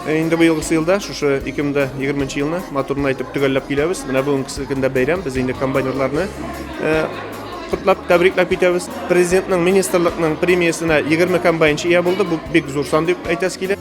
Э, инде быел елда шушы 2020 елны матурын әйтеп төгәлләп киләбез. Менә бүгенге көндә бәйрәм без инде комбайнерларны э, котлап тәбрикләп китәбез. Президентның министрлыкның премиясенә 20 комбайнчы ия булды. Бу бик зур сан дип әйтәс килә.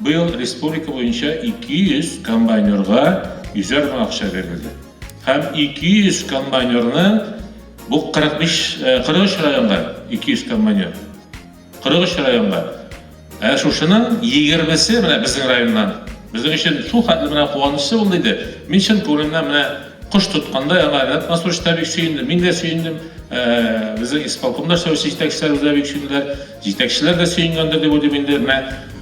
Быел республика буенча 200 комбайнерга йөзәр мең акча бирелде. Һәм 200 комбайнерны, бу 45, 43 районга 200 комбайнер. 43 районга. Ә шушының 20-се менә безнең районнан. Безнең өчен шул хәтле менә куанычлы булды иде. Мин чын күңелемнән менә кош тоткандай аңа Ренат Мансурович та бик сөенде, мин дә сөендем, безнең исполкомда эшләүче җитәкчеләр үзләре бик сөенделәр. Җитәкчеләр дә сөенгәндер дип уйлыйм инде, менә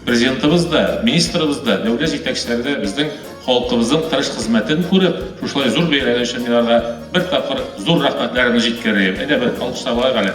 Президентыбыз да, министрыбыз да, дәүләт җитәкчеләре дә безнең халкыбызның тырыш хезмәтен күреп, шушылай зур бәйрәме өчен мин аларга бер тапкыр зур рәхмәтләремне җиткерәем. Әйдә, бер алкышлап алайк әле.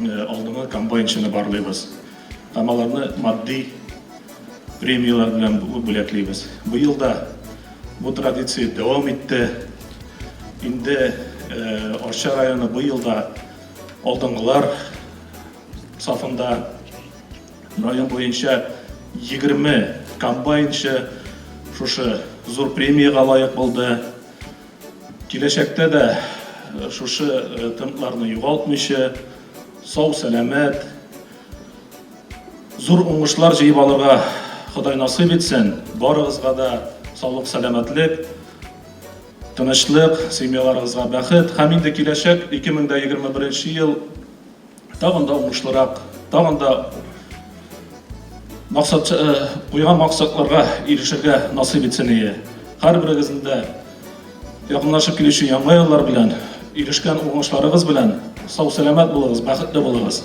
Алдынгы комбайнчыны барлыйбыз һәм аларны матди премияләр белән бүләклибез. Быел да бу традиция дәвам итте. Инде Арча районы быел да алдынгылар сафында. Район буенча 20 комбайнчы шушы зур премиягә лаек булды. Киләчәктә дә шушы темпларны югалтмыйча, сау-сәламәт, зур уңышлар җыеп алырга Ходай насыйп итсен. Барыгызга да саулык-сәламәтлек, тынычлык, семьяларыгызга бәхет һәм инде киләчәк 2021 ел тагын да уңышлырак, тагын да максат куйган э, максатларга ирешергә насыйп итсен ие. Һәрберегезнең дә якынлашып килүче яңа еллар белән, ирешкән уңышларыгыз белән сау-сәламәт булыгыз, бәхетле булыгыз.